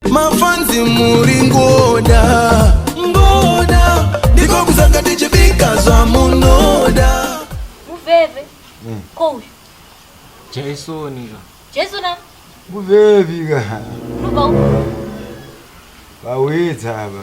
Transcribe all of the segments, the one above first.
mafanzi muri ngoda ngoda ndiko kusaka tichibika zvamunoda Muveve. Mm. Ko uyu. Jason nika. Jason na. Muveve ka. Unoba uko. Vawedza ava.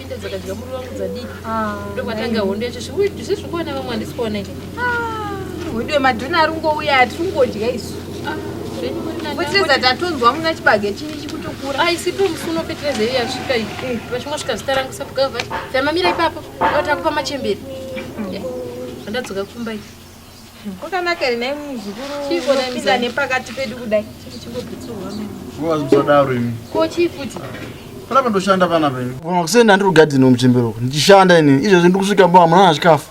Ita dzakadya muri wangu dzadii Ah, ndokwatanga hondo yacho zvekuti ndizvo zviri kuona vamwe handisi kuona ike Wedu wemadhuna ari kungouya ati kungodya isu. zvenyu muri nani Potireza angoti- tatonzwa muna chibage chinyi chikutokura. aisipo mufuno petireza iyo yasvika iyi vachingosvika zita rangu sabgava vati tamamira ipapo vatakupa machembere Eh, vandadzoka kumba iyi Kwakanaka rinai muzukuru unopinda nepakati pedu kudai. Musadaro imi. Ko chii futi? Panapa ndoshanda panapa imi. Kona kusenda ndiri kugadhini muchembero uko. Ndichishanda ini. Izvezvi ndiri kusvika mbo amuna na chikafu.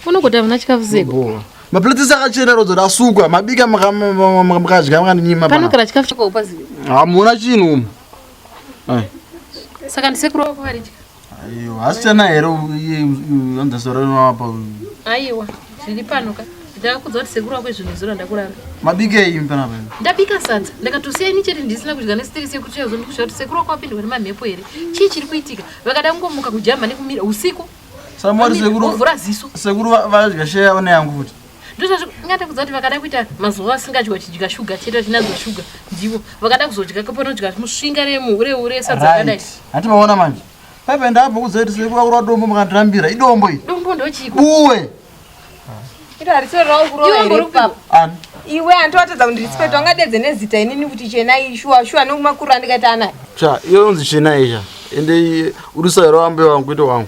Unogota amuna chikafu zeko. Maplate saka chena rodzo rasukwa. Mabika makadya makanyima pana. Panogara chikafu chako upazivi. Hamuna chinhu umu. Saka ndisekuru wako vari chikafu. Aiwa, hasichana here anza sora rinowapa uyu? Aiwa, zviri pano ka. Ndakakudza kuti sekuru wako izvinhu zora ndakurara. Mabike iyi mpana pano. Ndabika sadza. Ndakatosiya ini chete ndisina kudya nesitiri sekuru chiya zondikusha kuti sekuru wako wapindwa nemamhepo here. Chii chiri kuitika? Vakada kungomuka kujamba nekumira usiku. Samwari sekuru. Vovhura ziso. Sekuru vadya sheya one yangu futi. ndozvazvingada kudza kuti vakada kuita mazuva asingadyiwa chidya shuga chete vachinadza shuga ndivo vakada kuzodya kapanodya musvinga remuureure sadzakadai hati vaona manje paipa ndapo kuzoitisekuaura dombo makandirambira idombo i dombo ndochiko uwe iwe andiwatadza kundirisipeta wangadedze nezita inini kuti chenai shuwa shuwa nokumakuru andikaita anayo cha iyo yonzi chenai cha ende urisairoambe wangu kuita wangu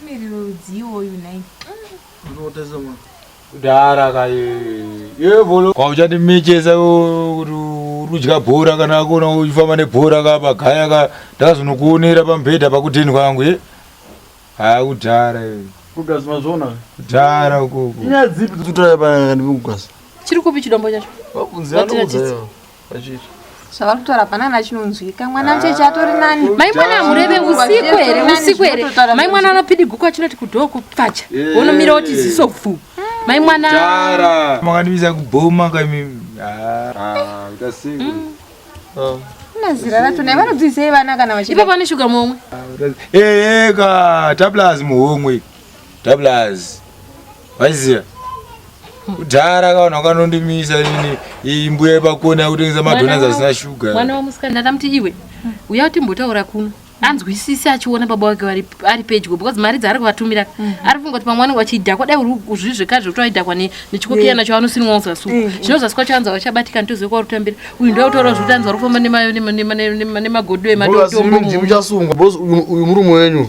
Mumiriro rudzii iwoyu nhai? Kudhara kaye. Yevolo. Kwa uchati mechesa kuti urudya bhora kana akona uchifamba nebhora ka pagaya ka ndakazonokuonera pamubhedha pakudheni kwangu ye. Haa kudhara. Kugasa mazvona. Kudhara ukoko. Inyaya dzipi dzotaya pa ndikugaza? Chiri kupi chidombo chacho? Vakunzi anokuzayo. zvavari kutaura hapana na chinonzwika mwana mcheche ah, atori nani mai mwana amureve usiku here usiku here mai mwana anopidigukwa chinoti kudhoo kupfacha wonomira woti ziso pfu mai mwana makandivisa kubhoma kaimi ah. ah, hmm. oh. nazira racho nai vanodzisei vana kana vachiipa pane shuga momwe eeka eh, eh, taplaz muhomwe Doublers. Vaiziva. Kudhara kaona kanondimisa ini iyi mbuya pakona yakutengesa madonors asina sugar. Mwana wamusikana ndamuti iwe uya timbotaura kuno anzwisise achiona baba wake ari pedyo because mari dzaari kuvatumira mm. ari funga kuti pamwe anenge achidhakwa dai uzvizvekare zvekuti aidhakwa nechikokiya nacho anosinwa uzasuku mm. zvinozasi kwacho anzi vachabatika nitozive kwauri kutambira uyu ndo autaura zvekuti anzi vari kufamba nemagodo ematombo muchasungwa bcause uyu murume wenyu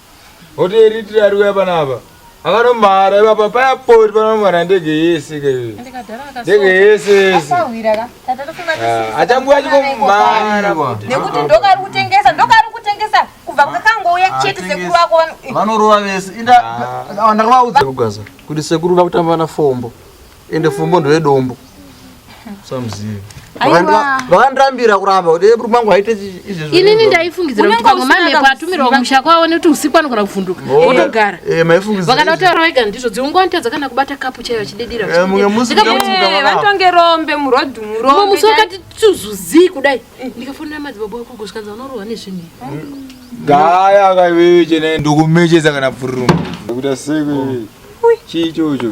Oti eritira ari kuya panapa. Akanomhara ipapa paya poti panomhara ndege yese ke. Ndege yese yese. Ah, Achanguya achingomhara. Nekuti ndoka ari kutengesa, ndoka ari kutengesa kubva kwakangouya ah, chete sekuru wako vanorova vese. Inda ah. ndakavaudza kugwaza kuti sekuru vakutamba na fombo. ende fumbo ndoyedombo samuzivi vakandirambira kuramba kuti eburu mangu aite izvezvoinini ndaifungidzira kuti pamwe mamhepo atumirwa kumusha kwavo nekuti usiku anogona kuvhunduka otogara eh, vakada kutaura vega ndizvo dziungonatadza kana kubata kapu chaiyo achidediravantonge eh, rombe murodhumurombe musi wakati tuzuzii kudai ndikafonera madzibaba wako kusvikanza vanorohwa nezvinhu gaya kaiwewe chena ndokumecheza kana bvururumu kuita sei chii chocho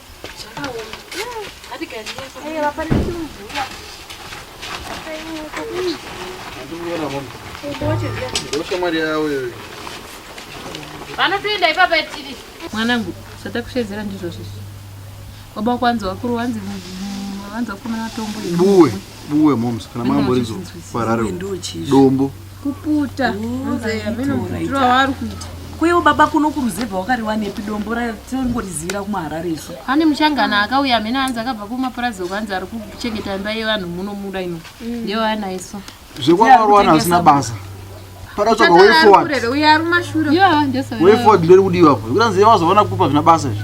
vanotoenda ipapa tiri mwanangu zvatakushedzera ndizvo zvizi baba kwanzi wakuru wanzi wanzi wakomana matombo buwe buwe moms kana mambo rizo parare dombo kuputa mzeyaminomutura waari kuita kwewo baba kuno kuruzevha wakariwanepi dombo ratongorizivira kumaharare isu ane muchangana akauya amene anzi akabva kumapurazi okuanzi ari kuchengeta imba yevanhu muno muda ino mm. ndeyo ana isu zvekwavarwana asina basa pakatsvaga wefoward wefoward ndiri kudiwa po kuranzi yemazoona kupa zvina basa izvi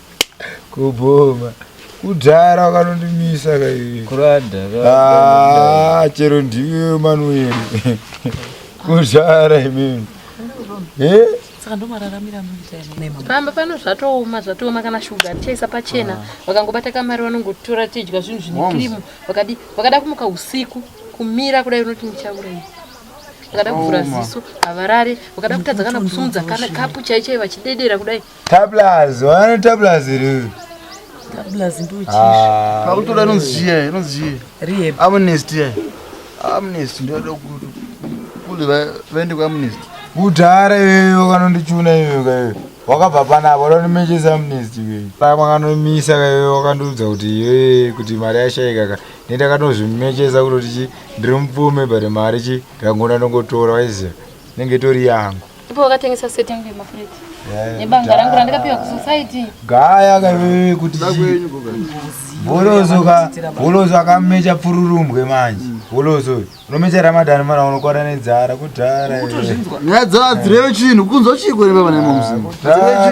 kubhoma kudhara wakanondimisa ah, chero ndiwe manueri kudhara imimi eh? saka ndomararamira pamba pano zvatooma zvatooma kana shuga tichaisa pachena ah. vakangobata kamari vanongotora tidya zvinhu zvine kirimu vakadi vakada kumuka usiku kumira kudai unoti ndichaurei vakada kuvhura ziso havarare vakada kutadza kana kusumudza kana kapu chaichai vachidedera kudai Tablaz, wana tablaz iri. Tablaz ndo chichi. Ah. Pakutora inonzi chiya, inonzi chiya. Rehab. Amnesty ya. Amnesty ndo ndo kuti kule va vende kwa amnesty. Udhara iwe wakanondichuna iwe kaye. Wakabva pana apo ndo nimecheza amnesty iwe. Pa makanomisa kaye wakandiudza kuti iwe kuti mari yashaika ka. Nenda kanozvimecheza kuti ndiri mupfume but mari chi ndangona ndongotora waiziva. Nenge tori yangu. Ndipo wakatengesa seti yangu yemafureti eh, nebanga rangu randakapiwa kusociety gaya kaiwewe kuti bolozo ka bolozo akamecha pfururumbwe manje mm. bolozo unomecha ramadhani mwana unokwara nedzara kudhara nyaya dzadzireve chinhu kunzwa chii kwerevevanemamusi ah,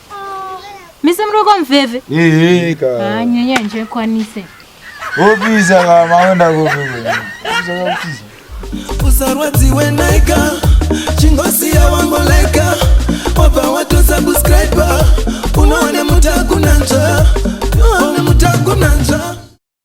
Mise mroko mveve. Ehe ka. Ah nyanya nje kwanise. Opisa ka maenda kopi. Usarwadziwe naika chingosi ya wangu laika wapa watu subscriber unaone mutakunanja unaone mutakunanja